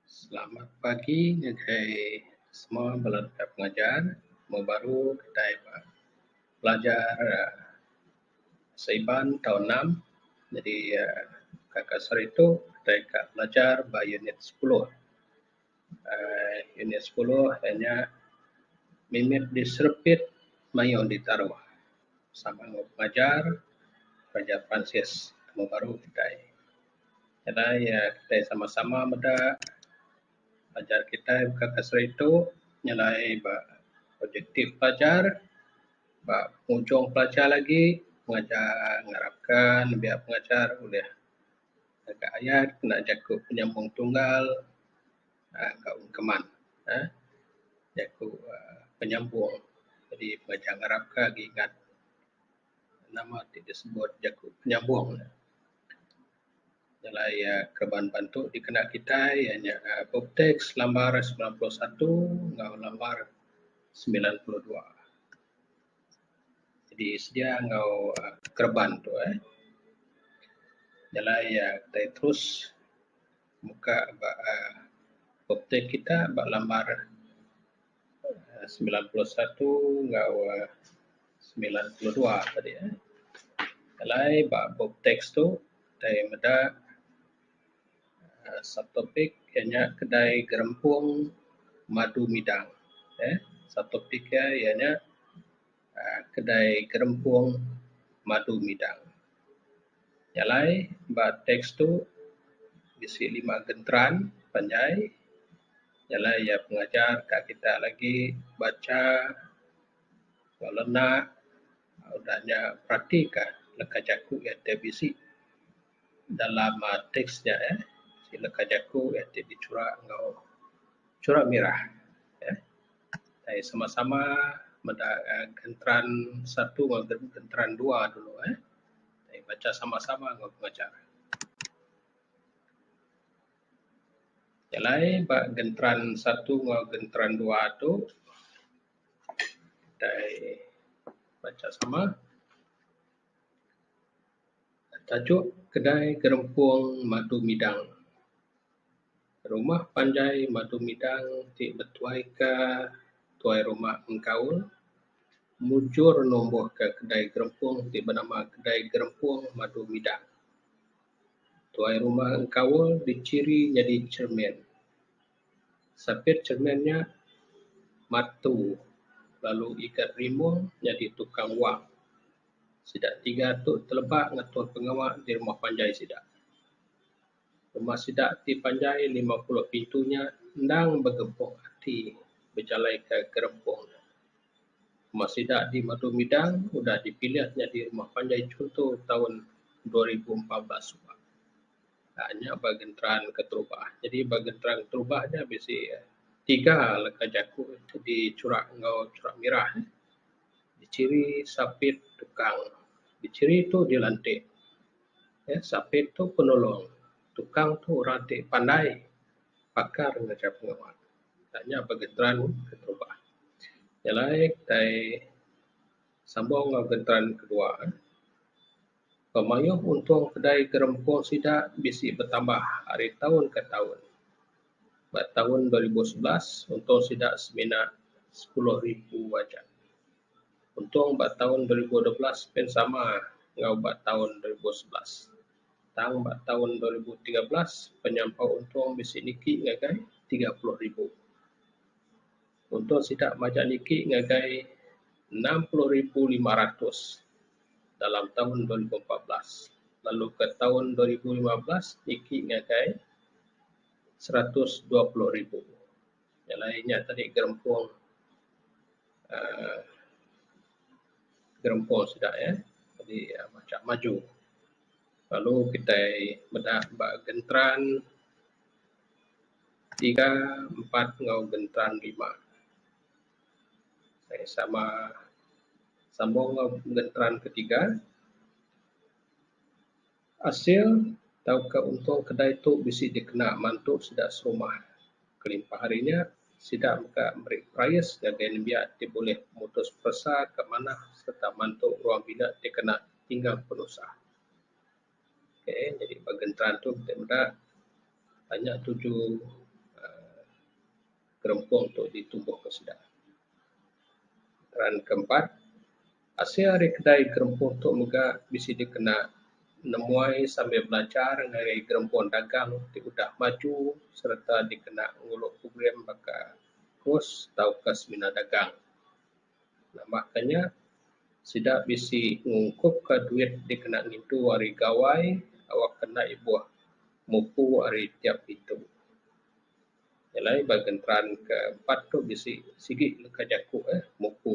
Selamat pagi ngagai semua bala deka pengajar. Moh baru kitai ba pelajar Sri Iban tau enam jadi ka kaser itu kitai ka belajar ba unit sepuluh. uhh unit sepuluh iya nya mimit diserepit mayuh ditaruh sama enggau pelajar, pelajar peransis temu baru kitai. Nadai iya kitai sama sama meda pelajar kitai baka ke seritu nyelai ba objektif pelajar ba pengunchung pelajar lagi pengajar ngarapka nembiak pengajar ulih ngagai ayat kena jaku penyambung tunggal aaa enggau keman aaa jaku aaa penyambung jadi pelajar ngarap ka agi ingat nama ti disebut jaku penyambung ne jalai iya keban bantu dikena kitai iya nya book text lambar semilan puluh satu enggau lambar semilan puluh dua. Jadi sedia enggau kereban tu uhh jalai iya tai terus muka ba uhh optek kita ba lambar uhh semilan puluh satu enggau uhh semilan puluh dua tadi uhh jalai ba optek tu tai meda. Subtopik iya nya kedai gerempung madu midang uhh subtopik iya iya nya uhh kedai gerempung madu midang. Nya alai ba teks tu bisi lima genteran panjai nya alai iya pengajar ka kita lagi bacha ba lenak udah nya peratika leka jaku iya ti bisi. dalam teks nya eh sila ka jaku eh ti dichura enggau chura mirah eh taii sama sama meda genteran satu enggau genteran dua dulu eh taii bacha sama sama enggau pengajar. Jalai ba genteran satu enggau genteran dua tu taii bacha sama. Tajuk kedai gerempung Madu Midang. Rumah panjai Madu Midang ti betuaika tuai rumah engkaul mujur numbuhka kedai gerempung ti benama Kedai Gerempung Madu Midang. Tuai rumah engkaul dichiri nyadi cermin. Sapit cermin nya matu lalu ikat rimung nyadi tukang wang. Sida tiga tu teleba ngatur pengawa di rumah panjai sida. Rumah sida ti panjai lima puluh pintu nya endang begepok ati bejalaika gerempung. Rumah sida di Madu Midang udah dipilih nyadi rumah panjai chunto taun dua ribu empat belas suba. uhh nya ba genteran keterubah. Jadi ba genteran keterubah nya bisi tiga leka jaku ti dichura enggau chura mirah. Dichiri, sapit, tukang. Dichiri tu dilantik, uhh sapit tu penulung, tukang tu orang ti pandai pakar ngajar pengawa. Uhh nya ba genteran keterubah. Nya alai kitai sambung enggau genteran kedua. Pemayuh untung kedai gerempung sida bisi betambah ari taun ke taun. Ba taun dua ribu sebelas, untung sida semina sepuluh ribu aja. Untung ba taun dua ribu dua belas pen sama enggau ba taun dua ribu sebelas. Tang ba taun dua ribu tiga belas, penyampau untung bisi niki ngagai tiga puluh ribu. Untuk sida majak niki ngagai enam puluh ribu lima ratus dalam taun dua ribu empat belas lalu ke taun dua ribu lima belas niki ngagai seratus dua puluh ribu jalai nya tadi gerempung uhh gerempung sida eh jadi majak maju lalu kitai meda ba Genteran. Tiga, empat enggau gentan lima. Meh sama sambung enggau gentan ke tiga, asil tauka unto kedai tu bisi dikena mantu sida serumah. Kelimpah ari nya, sida mega meri price ngagai nembiak ti bulih mutus peresa ke manah sereta mantu ruang bilik ti kena tinggal penusah. Okay jadi ba gentran tu kitai meda tanya tuju uhh gerempung tu ditumbuh ka sida. Soalan ke empat asil ari kedai gerempung tu mega bisi dikena nemuai sambil belajar ngagai gerempung dagang ti udah maju sereta dikena ngulu program baka kos tauka semina dagang. Nama ka nya sida bisi ngungkup ka duit dikena ngintu ari Gawai awak ke enda ibuh mupu ari tiap pintu. Nyelai ba genteran ke empat tu bisi sigi leka jaku eh mupu.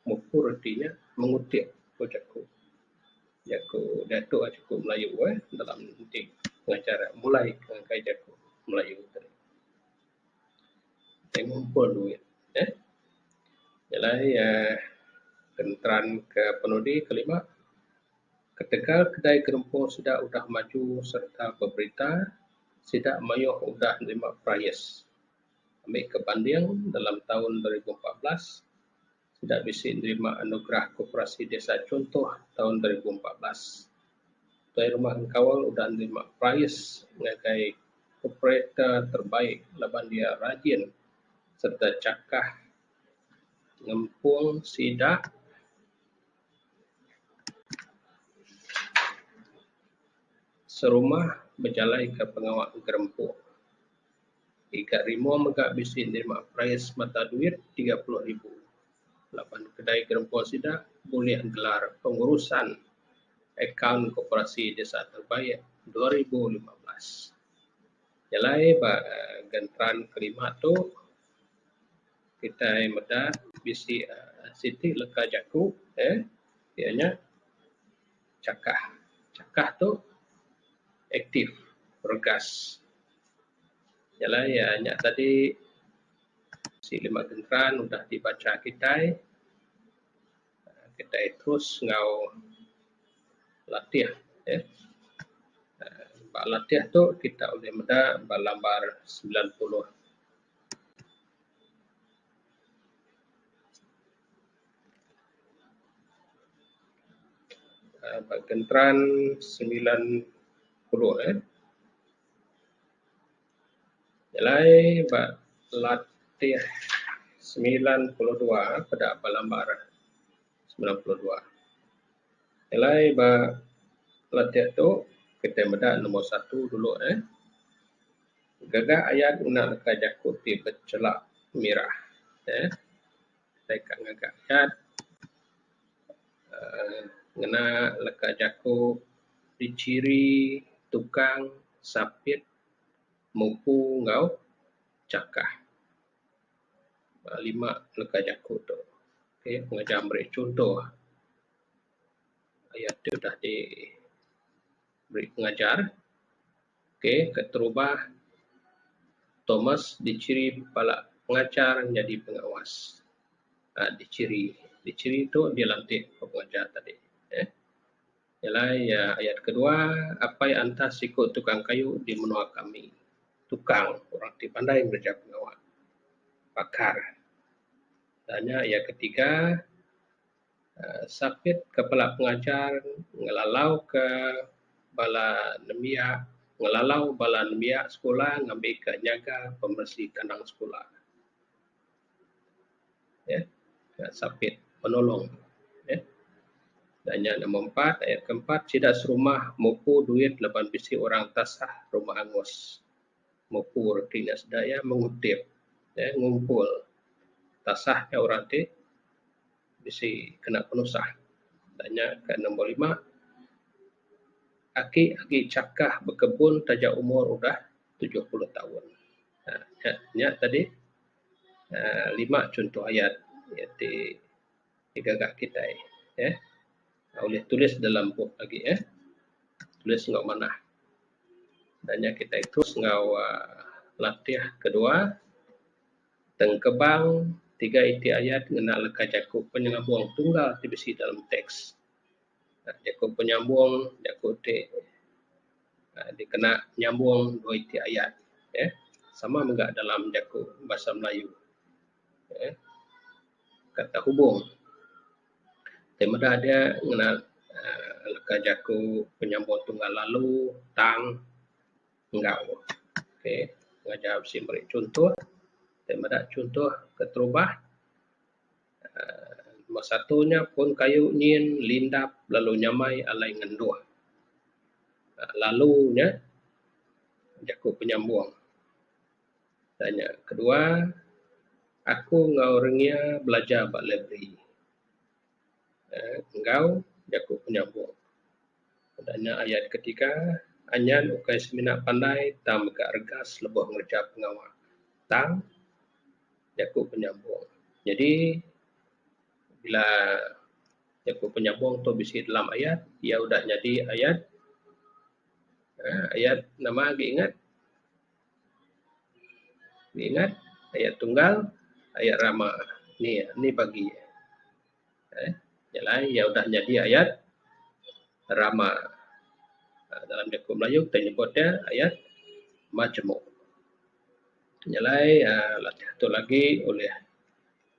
Mupu reti nya mengutik ku jaku. Jaku diatu nya jaku Melayu eh dalam enti pengajar mulai ngagai jaku Melayu. Ti ngumpul duit uhh adalah iya kenteran ke penudi ke lima ketegal kedai gerempung sida udah maju sereta beberita sida mayuh udah nerima price ami ke banding dalam taun dua ribu empat belas. sida bisi nerima anugerah Koperasi Desa Chuntoh taun dua ribu empat belas. Tuai Rumah Engkaul udah nerima perais ngagai Operator Terbaik laban iya rajin sereta chakah ngempung sida serumah bejalaika pengawa gerempung. Ika Rimo mega bisi nerima perais mata duit tiga puluh ribu laban kedai gerempa sida bulih gelar Pengurusan Akaun Koperasi Desa Terbaik dua ribu lima belas. Nyelai ba genteran kelima tu, kitai meda bisi siti leka jaku iya nya. chakah. Chakah tu aktif, regas. Nya alai iya nya tadi bisi lima gentran udah ti bacha kitai. Kitai terus enggau latih uhh. Ba latih tu kita ulih meda ba lambar semilan puluh. Ba Kenteran semilan puluh eh nyelai ba Latih semilan puluh dua peda ba Lambar semilan puluh dua nyelai ba Latih tu kitai meda nombor satu dulu eh gaga ayan ngena leka jaku ti bechelak mirah eh. Kitai ka ngaga adat uhh ngena leka jaku dichiri tukang sapit mupu enggau chakah. Uhh lima leka jaku tu uhh ngajah meri chuntoh ayak ti udah di meri pengajar. K. Keterubah Thomas dichiri pala pengachar nyadi pengawas. Aa dichiri, dichiri tu dilantik ba pengajar tadi eh. Nyelai iya ayat kedua, apai antas siku tukang kayu di menua kami. Tukang, orang ti pandai ngereja pengawa. Pakar. Tanya iya ketiga. Sapit ke bala pengajar ngelalau ke bala nembiak ngelalau bala nembiak sekula ngambi ke nyaga pemberesi kandang sekula uhh sapit penulong uhh da nya number empat ayat ke empat sida serumah mupu duit laban bisi orang tasah rumah angus. mupur ti nya sida iya mengutip uhh ngumpul tasah nya orang ti bisi kena penusah da nya ka number lima aki agi chakah bekebun taja umur udah tujuh puluh taun uhh nya tadi uhh lima chunto ayat nya ti. ti gaga kitai eh ulih tulis dalam bup agi eh tulis enggau manah da nya kitai terus enggau uhh latih kedua tengkebang tiga iti ayat ngena leka jaku penyelabong tunggal ti bisi dalam teks. Jaku penyambong jaku ti uhh dikena nyambong dua iti ayat eh sama mega dalam jaku Bahasa Melayu. uhh kad terhubung ti meda agi ngena leka jaku penyambung tunggal lalu tang enggau okay ngajar bisi meri chuntoh ti meda chuntoh keterubah uhh nombor satu nya pun kayu nyin lindap lalu nyamai alai ngenduh lalu nya jaku penyambung. Tanya kedua, Aku enggau Rengia belajar ba librari uhh enggau jaku penyabuk. Tanya ayat ketiga, Anyan ukai semina pandai tang mega regas lebuh ngereja pengawa tang jaku penyabuk. Nyadi bila jaku penyabuk tu bisi dalam ayat, iya udah nyadi ayat uhh ayat nama agi ingat? Ningat ayat tunggal ayat rama ni ni bagi eeh jalai iya udah nyadi ayat rama dalam jaku melayu kita nyebut iya ayat majemuk. Jalai aaa tu lagi ulih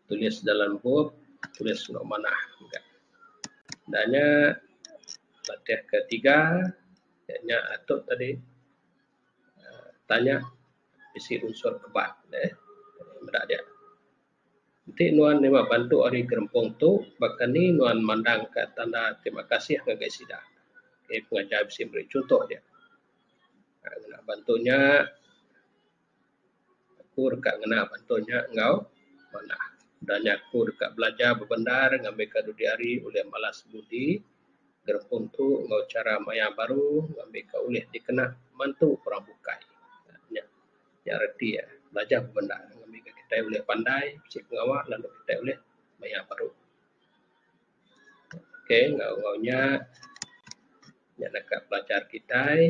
tulis dalam bup tulis enggau manah mega. Enda nya latih ketiga nya atuk tadi. tanya bisi unsur keban ne meda dia. Enti nuan deba bantu ari gerempung tu baka ni nuan mandang ka tanda terima kasih ngagai sida. Enti pengajar bisi meri chunto dia. Bantu nya. Aku deka ngena bantu nya enggau manah. Udah nya aku deka belajar bebendar ngambika dudi hari ulih malas ngemudi gerempung tu enggau chara maya baru ngambika ulih dikena mantu orang bukai. Nya, nya reti iya. Belajar bebendar ngambika kitai ulih pandai bisi pengawa lalu kitai ulih maya baru. Okay, enggau nya, nya deka belajar kitai.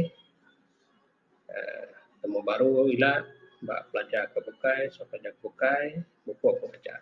Temu baru ila ba pelajar ke bukai sampai enda ke bukai mupok ke pelajar.